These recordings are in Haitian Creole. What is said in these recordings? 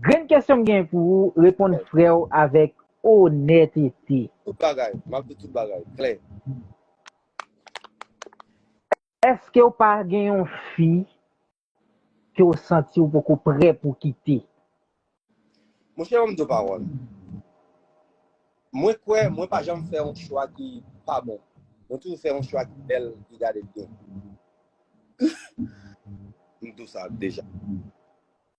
Grenn kesyon m gen pou ou reponn freo avek onètete. Tout bagay, map di tout bagay klè. Eskew pa gen yon fi ke w santi w poko prè pou w kite? Monchè banm di w pawòl. Mwen kwè mwen pa janm fè yon chwa ki pa bon. Mwen toujou fè yon chwa ki bèl, ki gade byen. M di w sa deja.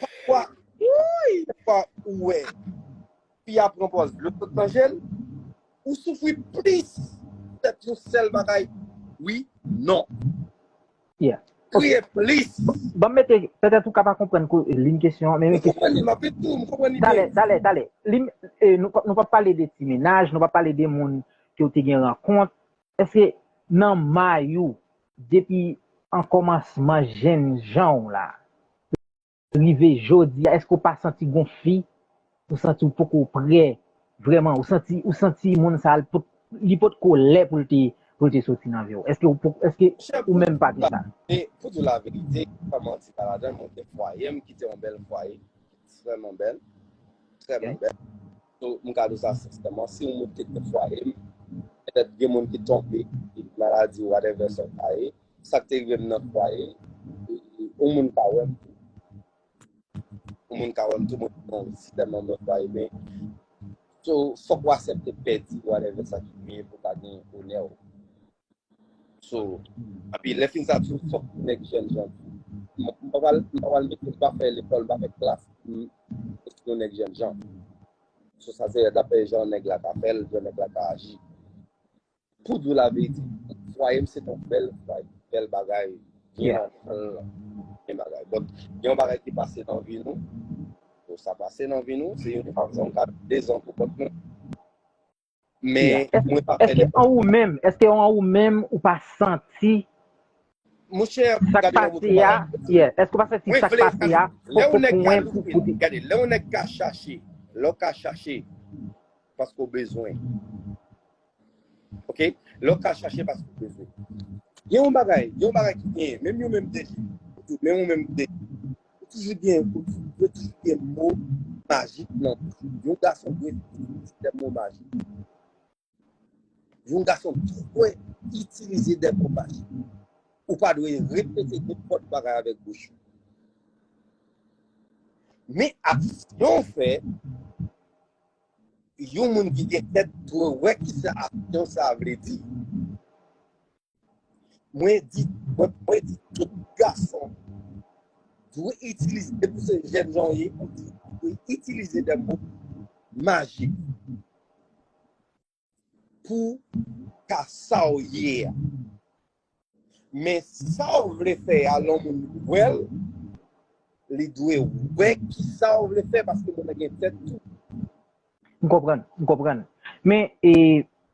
Pafwa, pafwa ou wè, fi a pran pòz dlo sot nan je l, ou soufri plis tèt yon sèl bagay, wi, non. Yeah. Kriye plis. Banm mete, petèt ou ka pa konprann ko lim kesyon an, men mete. M konprann li, m ap mete tou, m konprann li byen. Talè, talè, talè. Lim, nou pap pale de ti menaj, nou pap pale de moun ke ou te gen rankont, Eske nan may ou depi an komansman jenn jan w la rive jodi a eske w pa santi gon fi ou santi w poko prè vrèman ou santi ou santi moun sa li potko lè pou l te pou l te soti nan vi w eske w poko eske Chère ou pou menm di pa gen sa. laverite pou di laverite san manti pa ladann mwen gen fwaye m kite yon bèl fwaye ki vrèman bèl trèman bèl. So m ka di w sa senseman, si w moun ki te fwaye m, petèt gen moun ki tonbe ak maladi whatever sa ka ye, sa k te rive m nan fwaye, yon moun ka wè m tou. Yon moun ka wè m tou, mwen te nan sistèm an mwen fwaye men. So fòk w asepte pèdi whatever sa ki rive pou w ka gen onè w. So, api lè fin sa tou fòk nèg jèn jan tou. M pa pral m pa pral mete m pa fè lekòl m pa fè klas pou m ret yon nèg jèn jan. So sa se dapre jan nèg la ka fè l, jan nèg la ka aji. Pou di w laverite, fwaye m se t yon bèl fwaye, bèl bagay, byen antann lan, byen bagay. Bòt gen yon bagay ki pase nan vi nou, so sa pase nan vi nou, se yon fazon, gad dezon pou kont nou. Men, mwen pa fè nenpòt bagay. Eske an ou menm ou pa santi sak pase ya? Eske ou pa santi sak pase ya? Lè ou nèk ka louvri, gade, lè ou nèk ka chache, lè ou ka chache, paske ou bezwen. Ok? Lè ou ka chache, paske ou bezwen. Gen yon bagay, gen yon bagay ki gen, menm yon menm defi, menm yon menm defi. Yo toujou gen yo toujou gen mo majik nan bouch yo. Yon gason dwe itilize de mo majik. Yon gason dwe itilize de mo majik. Ou pa dwe repete nenpòt bagay avèk bouch ou. Men aksyon ou fè, yon moun ki gen tèt dwe wè ki sa aksyon sa a vle di. Mwen di tout gason dwe itilize, depi ou se jèn jan ou ye, ou dwe itilize de mo majik pou ka sa ou ye a. Men sa ou vle fè a, lè yon moun wè l, li dwe wè ki sa ou vle fè paske moun nan gen tèt tou. M konprann, m konprann. Men e,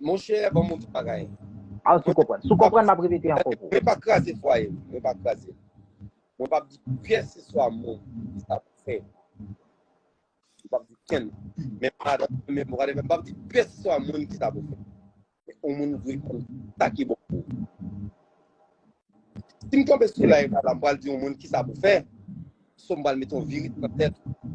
Monchè banm yon ti bagay. Ah si w konprann. Si w konprann m ap repete ankò pou ou. Mwen pa kraze fwaye l. Mwen pa kraze l. Mwen p ap di kèlkeswa moun ki sa pou fè. Mwen p ap di kenn. Menm madanm mwen menm wadèvè m p ap di kèlkeswa moun ki sa pou fè. Men yon moun dwe konn sa ki bon pou ou. Si m tonbe sou live la la m pral di yon moun ki sa pou fè. Sou m pral mete yon virit nan tèt ou.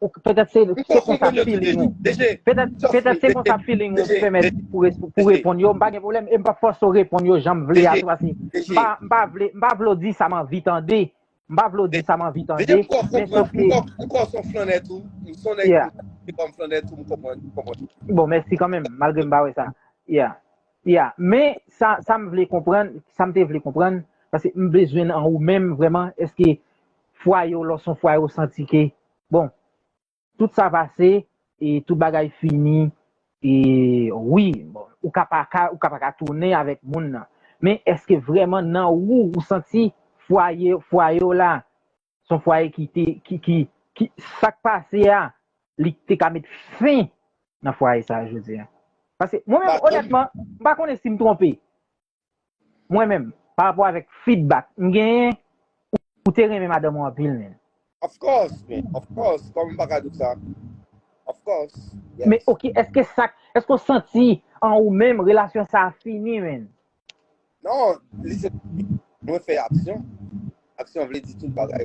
Ou k petèt se Li se poko konsa konn yo tou feeling ou. deja. DG, Petèt just petèt wait. se konsa feeling ou DG, pèmèt DG, pou res- pou DG, reponn yo, m pa gen pwoblèm e m pap fòse w reponn yo jan m vle DG, a tou pase m DG, pa m pa vle m pa vle w di sa m anvi tande. M pa vle w di sa m anvi DG, tande, m kwè w men konprann. sof M ke kwè w m kwè w se yon flannè tou. M se yon nèg yeah. m se kòm flannè tou, m konprann, m konprann. Bon, mèsi kan menm, malgre m pa wè sa. Yeah. Yeah. Men sa sa m vle konprann, sa m te vle konprann, pase m bezwen an ou menm vrèman, èske Fwaye w lò s on fwaye w santi ke bon tout sa pase e tout bagay fini e wi bon ou ka pa ka ou ka pa ka tounen avèk moun nan men èske vrèman nan ou ou santi fwaye fwaye w la s on fwaye ki te ki ki ki sa k pase a li te ka met fen nan fwaye sa a jodi a pase mwen menm onètman m pa konnen si m twonpe Mwen menm, pa rapò avèk feedback m genyen, ou te renmen madanm ou anpil men. Of course men, of course, kòman m pa ka di sa? Of course, yes. Men ok, èske sak, èske ou santi an ou menm relasyon sa a fini men? Non, li se fini, mwen fè aksyon, aksyon vle di tout bagay.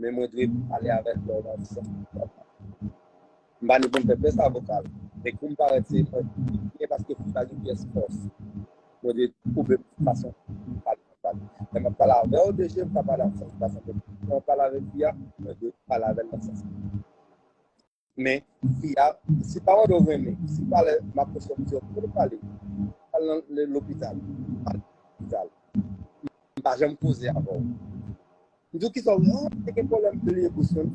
Men mwen dwe pale avèk lè w nan sèn vokal la. M pa ni pou m fè pyès avoka l, men kou m parèt se mwen byen paske fòk ta gen pyès fòs. Mwen dwe koube m sou fason pou m pale konsa. Lè m ap pale avè w de je, m ka pale ak sans ki pa sanble m. Lè m ap pale avèk fi a, mwen dwe pale avè l nan sans ki. Men, fi a, si pawòl ou renmen, si pale m ap osyon di w pou nou pale, al nan lopital, al nan lopital. M pa janm koze avè w. M di w ki sa w renmen, oh, m te gen pwoblèm pou liye bouch mwen.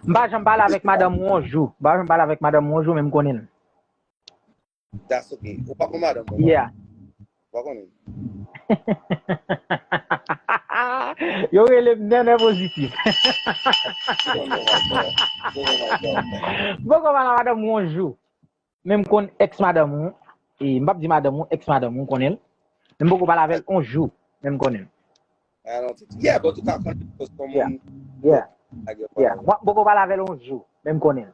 M pa janm pale avèk madanm ou yon jou, m pa janm pale avèk madanm ou yon jou men m konnen l. That's ok. Ou pa kon madanm mwen. Yeah. Ou pa konnen. Yo rele m nènè pozitif. Mwen kon madan madanm ou yon jou. Men m konn ex madanm ou. E m pap di madanm ou, ex madanm ou, m konnen l. Men m poko pale avèl yon jou. Men m konnen l. I don't think so. Yeah, but ou ka konnen l. Cause kon moun. Yeah. Yeah. Yeah. Mwen poko pale avèl yon jou. Men m konnen l.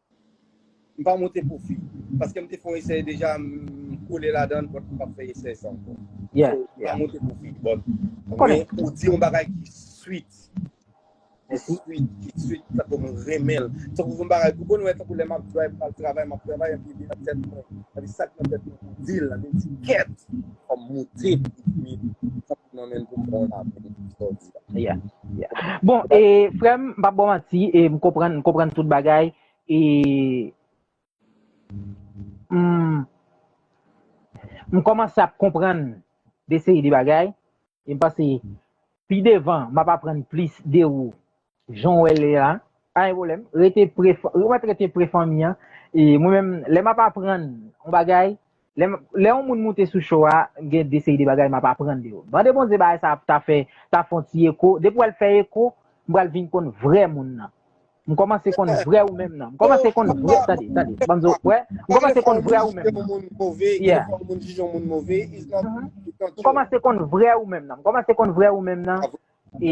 M pa monte pwofi paske m te fè yon esè deja m kole ladan l donk m pap fè esè sa ankò. Yeah, So, m pa yeah. monte pwofi but M konnen. men ou di yon bagay ki sweet, ki Mèsi. sweet, ki sweet tankou m renmen l. Tankou yon bagay ou konn wè tankou lè m ap drive m al travay, m ap travay epi li nan tèt mwen, epi sak nan tèt mwen pou di l la, li di kèt fò m monte pou m di l. Mwen menm pou mwen la pou mwen sa w di a. Yeah, yeah. Bon, e frè m, m pa bò manti, e m konprann, m konprann tout bagay, e m m kòmanse ap konprann de seri de bagay, e m panse pi devan m ap aprann plis de ou Jan w wè l la, pa gen pwoblèm. Rete pre, ou mèt rete pre fanmi an. E mwen menm, lè m ap aprann yon bagay, lè yon moun moute sou show a, gen de seri de bagay m ap aprann de yo. Mande Bondye bagay sa ap ta fè, ta fè yon ti eko. Depi wè l fè eko, m pral vin konn vrè moun nan. M kòmanse konn vrè ou menm nan. M kòmanse konn vrè, tande, tande, banm di w, wè, m kòmanse konn vrè ou menm nan. Yeah. M kòmanse konn vrè ou menm nan. M kòmanse konn vrè ou menm nan. E,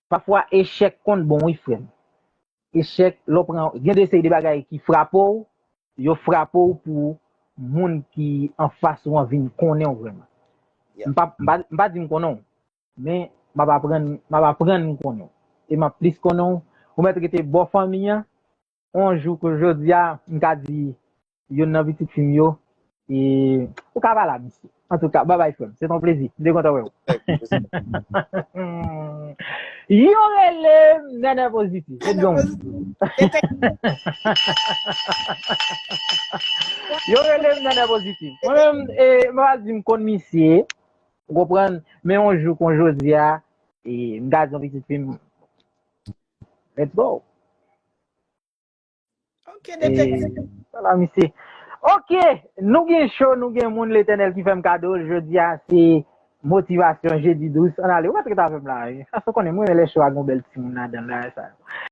Pafwa echèk konn bon wi frèm. Echèk lè w pran gen de seri de bagay ki frape w, yo frape w pou moun ki anfas ou an vin konnen w vrèman. M pa m pa di m konnen w men m ap aprann m ap aprann konnen w e m ap plis konnen w ou mèt rete bò fanmi an On jou kou jodi a, m ka di youn nan pitit fi m yo, e ou ka pale a misye. Antouka, babay frè m, se t on plezi. M te kontan wè ou. Yo rele m Nènè Pozitif. Yo rele m Nènè Pozitif. Mwen menm, e m pa di m konn misye, ou konprann, men on jou kon jodi a, e m ka di on pitit fi m, Let's go. Ok, detektiv. Wala misye. Ok, nou gen show, nou gen moun l'Eternel ki fèm kado l jodi a se motivasyon jedi dous. An ale, ou pa trete avèm la. Sa se konnen mwen lè show a gon bèl ti moun ladan l la sa.